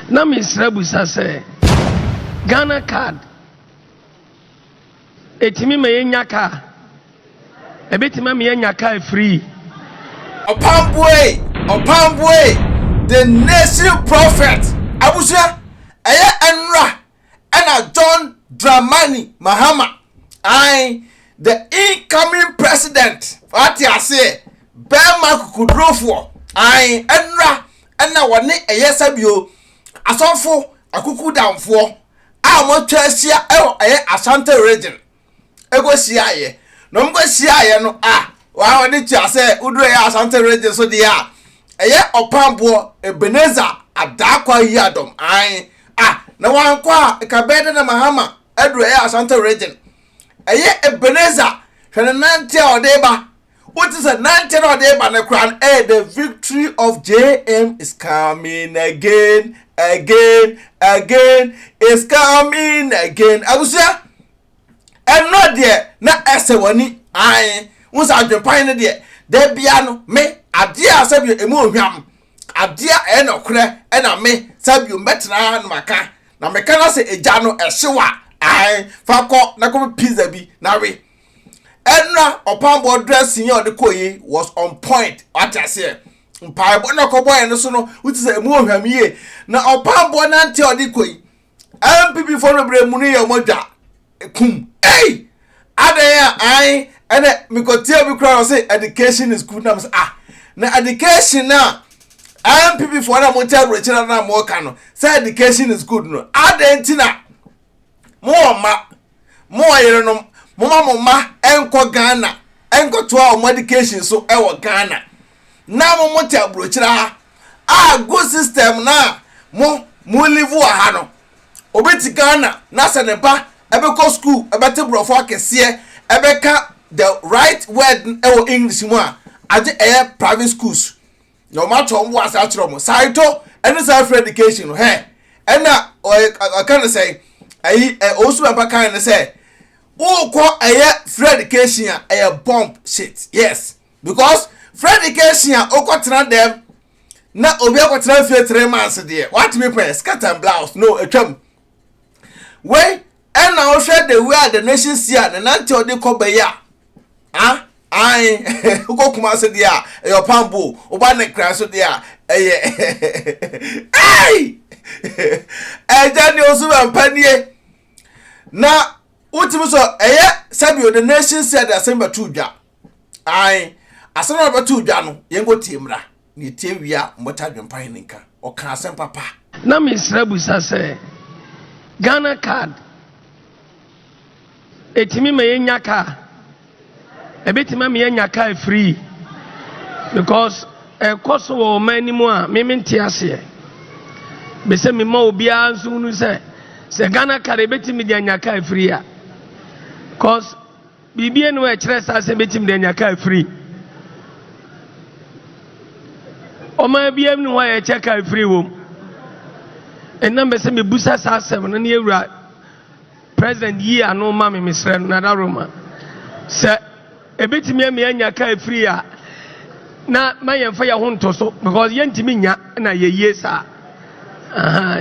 Na mesrɛ bisa sɛ Ghana card ɛtumi ma yɛnya car? Ɛbɛtumi ama yɛanya car free? Ɔpamboee Ɔpamboee the nation prophet abusua ɛyɛ ɛnra ɛna john dramani mahama ae the incoming president wate aseɛ bɛrima kukudurofoɔ ae ɛnora ɛna wɔne ɛyɛ sɛbio asɔfo akukudamfoɔ a wɔatwa ahyia ɛwɔ ɛyɛ asante region ɛkɔhyiaeɛ na wɔn kɔhyiaeɛ no a wɔn a wɔde kyia sɛ woduro yɛ asante regye so deɛ a ɛyɛ ɔpamboɔ ebeneza adaakwa yi adɔm an a na wankɔ a kabɛɛ de na mahama aduro yɛ asante regye ɛyɛ ebeneza hwɛ ne nante a ɔde ba Wote sɛ nanteɛ na ɔde ba no koraa no ɛyɛ the victory of JM is coming again again again is coming again abusua ɛnɔ deɛ na ɛsɛ w'ani ae wo sɛ adwempan no deɛ da bia no me adeɛ a sɛbio ɛmu ohwam adeɛ a ɛyɛ nɔkorɛ ɛna me sɛbio mbɛtena no maka na meka no sɛ ɛgya no ɛhyew a ae fa kɔ na kɔpɛ pizza bi na we ɛnna ɔpaabɔ dressing yɛ ɔde kɔ yi was on point wate aseɛ mpaebɔ na ɔkɔbɔ yɛn no so no wote sɛ ɛmu ohwam yie na ɔpaabɔ nante a ɔde kɔ yi mpp fo no bebree mu no yɛ ɔmɔ dwa kum ei adan a an ɛnɛ mekɔtia bi koraa ɔse education is good nam sɛ ah na education a mpp fo na mote awerɛkyerɛ na moka no sɛ education is good no adan nti na Mo wɔ mma, mo wɔ yerenom, moma mo mma nkɔ Ghana nkɔtoa wɔn education so wɔ Ghana na mo mo te aburokyire ha a good system no a mo mo live wɔ ha no obi te Ghana na sɛ ne ba ɛbɛkɔ school ɛbɛte borɔfo akɛseɛ ɛbɛka the right word wɔ English mu a agye ɛyɛ private schools. na wɔn ato wɔn bo ase akyerɛ wɔn saito ɛne saa free education no hɛ ɛna ɔka ne sɛ ɛyi ɛ ɔwusu bɛmpa kan ne sɛ wokɔ ɛyɛ free education a ɛyɛ bomb shit yes because free education a wokɔ tena dɛm na obi akɔ tena fie three months deɛ watumi pɛ skirt and blouse no atwam wei ɛna wohwɛ the way a the nation si a ne nante ɔde kɔ bɛyi a ah ae wokɔ kuma ase deɛ a ɛyɛ ɔpambo woba ne kra so deɛ a ɛyɛ ei ɛgya ne osu bɛmpa nie na wotumi sɔ ɛyɛ sɛbi the nation si a de asɛm bɛto dwa Ae, asɛm a ɔbɛto dwa no, yɛnkɔ tie mmra, na yɛtie wie a mobɛkyɛ adwempa he ne nka. Ɔkaa asɛm papa. Na mesrɛ bisa sɛ, Ghana card ɛtumi ma yɛnya car? Ɛbɛtumi ama yɛanya car free? Because ɛkɔ so wɔ ɔman no mu a me mente aseɛ. Bɛsɛ me ma obiara nso hunu sɛ, sɛ Ghana card ɛbɛtumi de anya car free a? Because Biribi nni hɔ a ɛkyerɛ saa sɛ ebetumi de anya kar firi. Ɔman biara nni hɔ a yɛkyɛ kar firi wom. Ɛnna mepɛ sɛ mibisa saa asɛm no na yɛwura President yi ano ma me, mesrɛ no, Nana Roma. Sɛ ebetumi ama yɛanya kar firi a, na ma yɛmfa yɛn ho nto so because yɛntumi nnya na yɛyie saa.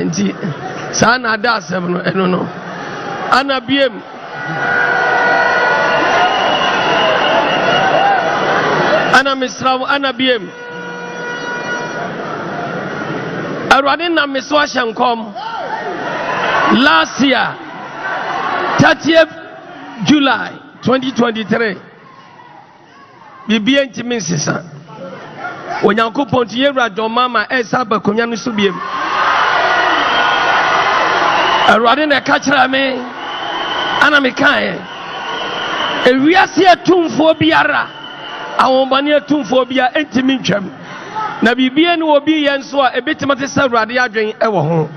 nti saa na ada asɛm no ɛno no ana biem ana mesra wo ana biem awurade nam me so ahyɛ nkɔm last year 30th july 2023 Biribiara ntumi nsesa. Onyankopɔn nti, yɛn wura John Mahama ɛresa aba akonnwa no so biom. Awurade na ɛka kyerɛ me, ana mekaeɛ. Ewiase atumfoɔ biara, ahombɔne atumfoɔ biara ntumi ntwam. Na biribiara ne wɔ bi yɛ nso a, ebetumi te sɛ Awurade adwene wɔ ho.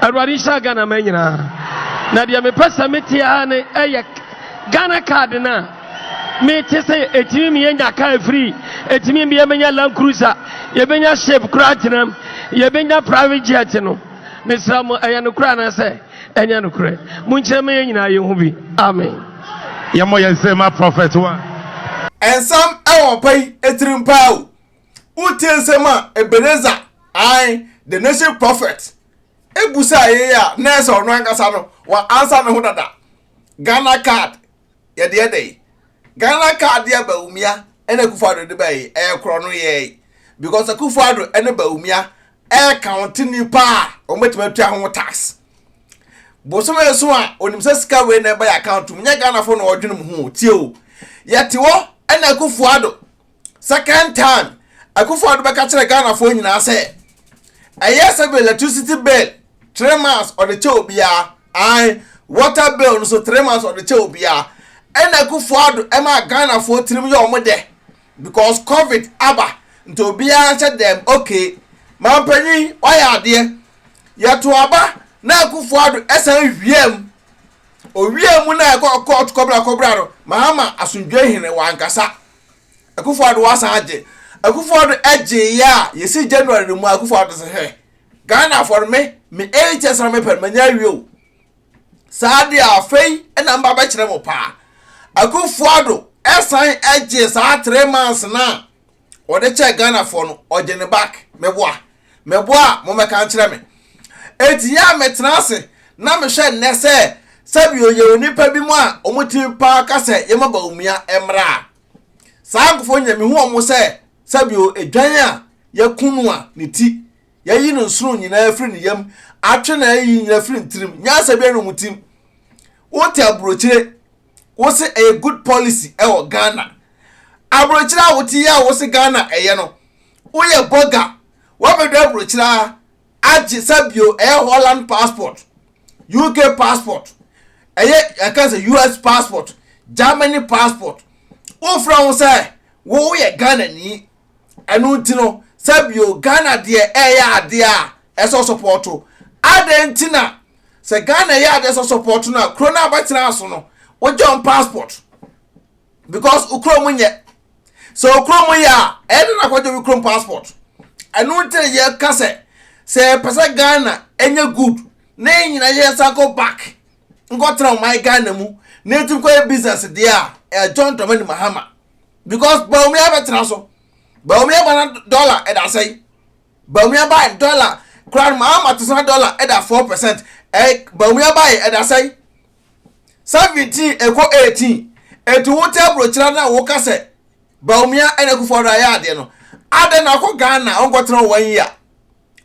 Awurade nhyɛ Ghana ma nyinaa. Na deɛ mepɛ sɛ mete ara ne ɛyɛ Ghana card no a Me te sɛ ɛtumi me yɛnya kaa afiri ɛtumi me yɛmɛnya land cruiser yɛbɛnya ship koraa tenam yɛbɛnya private jet no mesra mo ɛyɛ no koraa na sɛ ɛnyɛ no korɛ monkyerɛ ma yɛ nyinaa yɛ ho bi amen yɛmmɔ yɛn sɛ ma prophet wa ɛnsɛm ɛwɔ pa yi ɛtirim paa o wotie nsɛm a Ebenezer ae the nation prophet ɛbusa yɛ a na ɛsɛ ɔno ankasa no wa ansa ne ho dada Ghana card yɛdeɛ dɛn Ghana car deɛ Bawumia ɛna Akufo Addo de bɛyi ɛyɛ korɔ no yɛɛi because Akufo Addo ɛne Bawumia ɛyɛ county nipa a wɔn bɛtumi atua ho tax bosom ɛso a onim sɛ sika wei na ɛbɛyɛ account mu nyɛ Ghana fo na ɔdwene mu ho tie o yɛte hɔ ɛna Akufo Addo Second time, Akufo Addo bɛka kyerɛ Ghanafoɔ nyinaa sɛ, ɛyɛ sɛ bill, electricity bill, three months ɔde kyɛ obiara, ae, water bill no so three months ɔde kyɛ obiara. Ɛna Akufo Addo ɛma Ghanafoɔ tirim yɛ wɔn dɛ because covid aba nti obiara nhyɛ dɛm, okay, mampanyin wayɛ adeɛ. Yɛto aba na Akufo Addo ɛsan wia mu. Owia mu na ɛkɔ court kɔbra kɔbra no, Mahama asomdwoe hene wankasa. Akufo Addo wasan agye. Akufo Addo gyeeɛ a, yɛsi January no mu a, Akufo Addo sɛ hwɛ, Ghanafoɔ no, me, me eight years na mepɛ no, manya awie o. Saa deɛ afei na mba bɛkyerɛ mo paa. Akufo Addo san gyee saa three months no a, ɔde kyɛɛ Ghanafoɔ no, ɔgye ne back, meboa. Meboa a mommɛka nkyerɛ me. Enti yɛ a metena ase na mehwɛ nnɛ sɛ sɛbio yɛwɔ nnipa binom a wɔn tumi paa ka sɛ yɛma Bawumia mmra a. Saa nkurɔfoɔ yi na mehu wɔn sɛ sɛbio edwan a yɛaku no a ne ti, yɛayi no nsono nyinaa afiri ne yam, atwe na ayiyi nyinaa afiri ne tirim, nyansa biara nni wɔn tirim. Wote aburokyire. wo se ɛyɛ good policy ɛwɔ ghana aburokyerɛ a wote yɛ a wo se ghana ɛyɛ no woyɛ bɔga wabɛdɔ aburokyerɛ agye sɛbio ɛyɛ holland passport uk passport ɛyɛ ɛka sɛ us passport germany passport wofrɛ ho sɛ woyɛ ghana ni ɛno nti no sɛ bio ghana deɛ ɛyɛ adeɛ a ɛsɛ sɔpɔɔto adɛn nti na sɛ ghana ɛyɛ adeɛ sɛ sɔpɔɔto no a kuro no abɛtena aso no wogye wɔn passport because okuro mu nyɛ sɛ okuro mu yɛ a ɛde na kɔgye wo kurom passport ɛno nti na yɛka sɛ sɛ yɛpɛ sɛ ghana ɛnyɛ good na yɛn nyinaa yɛ nsa kɔ back nkɔtena ɔman ghana mu na yɛtumi kɔyɛ business deɛ a ɛyɛ john dramani mahama because bawumia abɛtena so bawumia ba na dollar ɛda sɛn bawumia ba dollar kura no maa ma te sɛ dollar ɛda four percent ɛɛ bawumia ba yɛ ɛda sɛn seventeen ɛkɔ eighteen etu wo tɛ burokyerɛ na wo kasɛ bawumia ɛna kufu ɔdo ayɛ adeɛ no adeɛ na ɔkɔ ghana ɔnkɔ tena wɔn yi a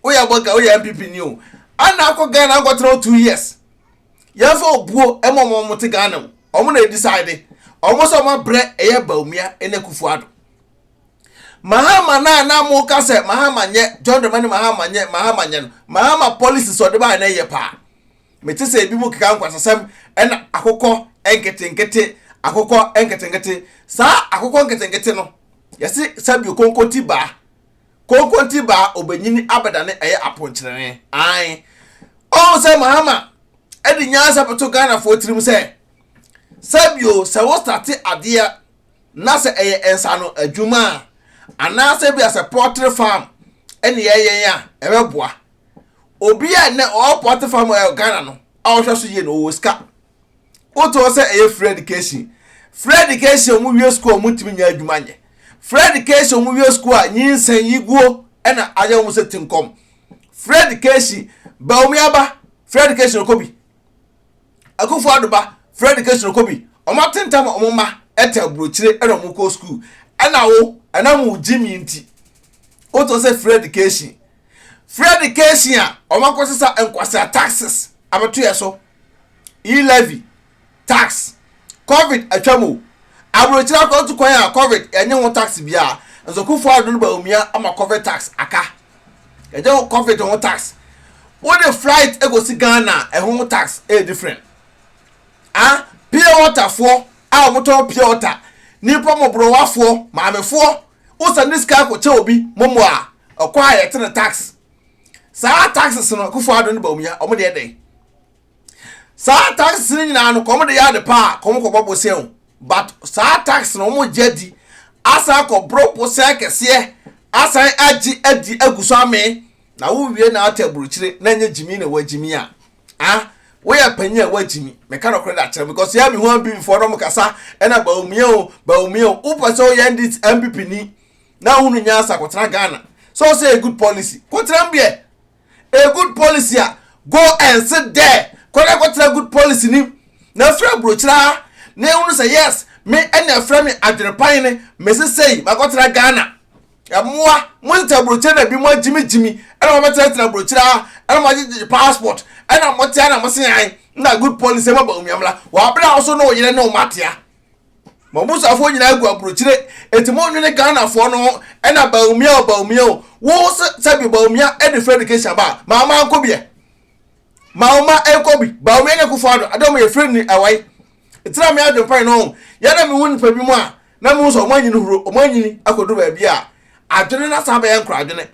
woyɛ abɔka woyɛ npp ni o ana akɔ ghana akɔtena o two years yɛmfa obuo ɛma ɔmo ɔmo te ghana o ɔmo na decide ɔmo sɛ ɔmo abrɛ ɛyɛ baumia ɛna kufu ado mahama na na mo ka sɛ mahama nyɛ john dramani mahama nyɛ mahama nyɛ no mahama policy sɛ ɔde baa na ɛyɛ paa mete sɛ ebi mu keka nkwasasɛm ɛna akokɔ nketenkete akokɔ nketenkete saa akokɔ nketenkete no yɛse sabio konko ti baa Konkonte baa obenyin abɛdane ɛyɛ aponkyerene ae Ɔho sɛ Mahama ɛde nyansa bɛto Ghanafoɔ tirim sɛ sɛbio sɛ wo starte adeɛ na sɛ ɛyɛ nsano adwuma a anaasɛ bia sɛ pɔtre farm ɛne yɛ yɛn a ɛbɛboa Obia nnɛ ɔwɔ pɔtre farm wɔ Ghana no a ɔhwɛ so yie no ɔwɔ sika wotɔɔ sɛ ɛyɛ free education free education ɔmo wie sukuu ɔmo ntumi nya adwuma nyɛ free education ɔmo wie sukuu a nyinsɛn yiguo ɛna ayɛ ɔmo sɛ tinkɔm free education baomi aba free education kɔ bi akufo adoba free education kɔ bi ɔmo atentam ɔmo mma ɛtɛ aburokyire ɛna ɔmo kɔ sukuu ɛna wo ɛna mo gyi mi nti wotɔ sɛ free education free education a ɔmo akɔsesa nkwasa taxes abɛto yɛ so e-levy, tax, covid atwam o, aburokyire akwantu kwan a covid yɛnye ho tax biara, nso Kufuor Addo no Bawumia ama covid tax aka. Yɛgye ho covid ho tax. Wode flight ekosi Ghana a, ɛho tax ɛyɛ different. Ah, pure water foɔ a wɔtɔn pure water, nipa mɔborowafoɔ, maamefoɔ, wosane sika akokyɛ obi mɔmɔ a, ɔkɔ a yɛte no tax. saa taxes no kofo ado ne bawumia wɔn deɛ dɛn saa taxes no nyinaa no kɔn de yɛ ade pa a kɔn kɔbɔ bosea o but saa taxes no wɔn gye adi asan kɔboro bosea kɛseɛ asan agye adi agu so amee na wowie na ate aburukyire na nye gyimi na ɛwɔ gyimi a ah woyɛ panyin a woagyimi meka nɔkorɛ de akyerɛ because yɛ me ho abimfoɔ no mkasa ɛna bawumia o bawumia o wopɛ sɛ woyɛ ndc mpp ni na wo no nyansa kɔtena ghana sɛ ɔsɛ a good policy kɔtena mu deɛ a good policy a go and sit there kɔdɛ kɔtena good policy nim na afiri aburokyiraa na ehunu sɛ yes me ɛna ɛfrɛ me adwene pan ne mesi sɛyi makɔtena ghana ɛmoa mo nta aburokyire na bi mo agyimigyimi ɛna mo bɛtenatena aburokyire a ɛna mo agyegyegye passport ɛna mo tea na mo se yan na good policy ma ba omiamla wɔ abere a wɔso ne oyere ne wɔn atea ma ɔmo suafoɔ nyinaa agu aburokyire eti mo nwene ghanafoɔ no ho ɛna baumia o baumia o wo sɛbi baumia ɛde free education ba a ma ɔma nkɔ biɛ ma ɔma ɛkɔ bi baumia nyɛ kofo ado adɛ ɔmo yɛ free ni ɛwai ɛtena me adwene pan no yɛna me hu nipa bi mu a na me hu sɛ ɔmo anyini huro ɔmo anyini akɔduru baabi a adwene na saa bɛyɛ nkora adwene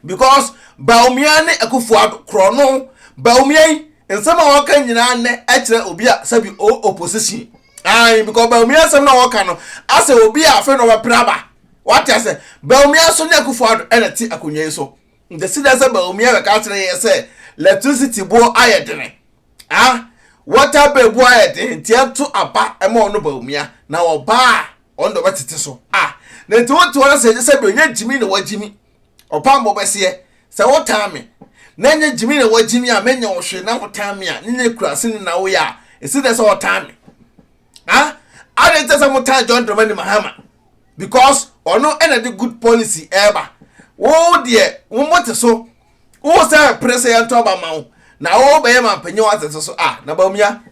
because Bawumia ne Akufo Addo korɔno Bawumia yi nsɛm a wɔka nyinaa nnɛ ɛkyerɛ obi a sɛbi o opposition ayi because Bawumia nsɛm na wɔka no asɛ obi a afei na ɔbɛpere aba wate asɛ Bawumia nso ne Akufo Addo ɛna ɛte akonnwa yi so nti si dɛ sɛ Bawumia bɛka akyerɛ yɛ sɛ electricity boɔ ayɛ dene ah water bill boɔ ayɛ dene nti ɛto aba ɛma ɔno Bawumia na ɔbaa ɔno de ɔbɛtete so ah na nti wote wɔn sɛ sɛbi onye gyimi na wagyimi Ɔbammɔ bɛseɛ, sɛ wotaa me, na ɛnyɛ gyimi na wagyimi a, menyɛ wo hwee na wotaa me a, nyɛ kurase ne na woyɛ a, ɛsi dɛ sɛ ɔtaa me. Ha? Adɛn kyɛ sɛ motaa John Dramani Mahama? Because ɔno ɛna de good policy ɛreba. Wo deɛ, wo mote so, wo sɛ pere sɛ yɛnto aba ma wo, na wo bɛyɛ ma mpanyin wɔ asɛsɛ so a, na Bawumia.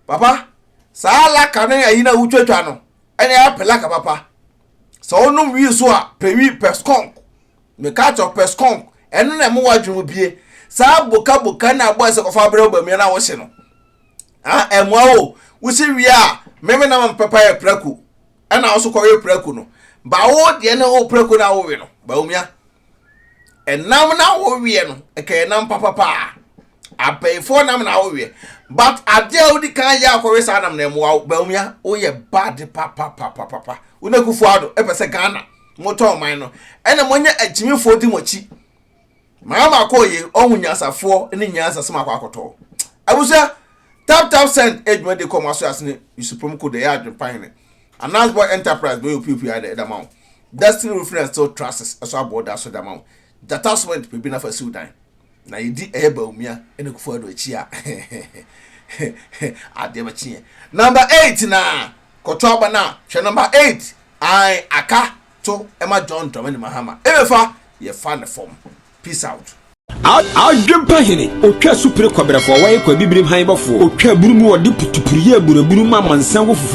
Papa, saa laka ne ayi na wotwatwa no, ɛna ɛyɛ apelaka papa. sɛ wonom wie so a pɛwi pɛskɔnk meka kyerɛ pɛskɔnk ɛno na ɛmo wadwene mu bie saa boka boka na abɔ ɛsɛ kɔfa abrɛ ɔbamia na wɔhyɛ no ah ɛmoa o wosi wie a meme na mam pɛpa yɛ prako ɛna wɔso kɔwe prako no ba wo deɛ ne wo prako na wowe no baomia ɛnam na woweɛ no ɛkɛyɛ nam papa paa abɛɛfoɔ nam na woweɛ but adeɛ a wodi kan yɛ akɔwe saa nam na ɛmoa wo bawumia woyɛ bad papa papa papa wo na kufu ado ɛpɛ sɛ ghana motɔ ɔman no ɛna monyɛ agyimifoɔ di mo akyi maa ma kɔɔ yie ɔho nyansafoɔ ne nyansa sɛ makɔ akɔtɔ abusua tap tap send adwuma de kɔ mo aso ase ne yusuprom ko de ɛyɛ adwempa hene Anas boy enterprise bɛyɛ opiopio ara na ɛda ma wo Destiny roofing and steel trusses ɛso aboɔ da so da ma wo Gyata cement pɛ bi na fa siw dan na yɛdi ɛyɛ Bawumia ɛne Kufuor Addo akyi a adeɛ bɛkye yɛn Number eight na kɔto aba no a hwɛ number eight ae aka to ɛma John Dramani Mahama ɛbɛfa yɛfa ne fam Peace out. Adwempa hene, otwa asupire kɔbrɛfoɔ, wɔyɛ kɔ abibirim han bɔfoɔ, otwa aburu mu wɔde putupuru yɛ aburaburu ma amansan wɔ fufuo.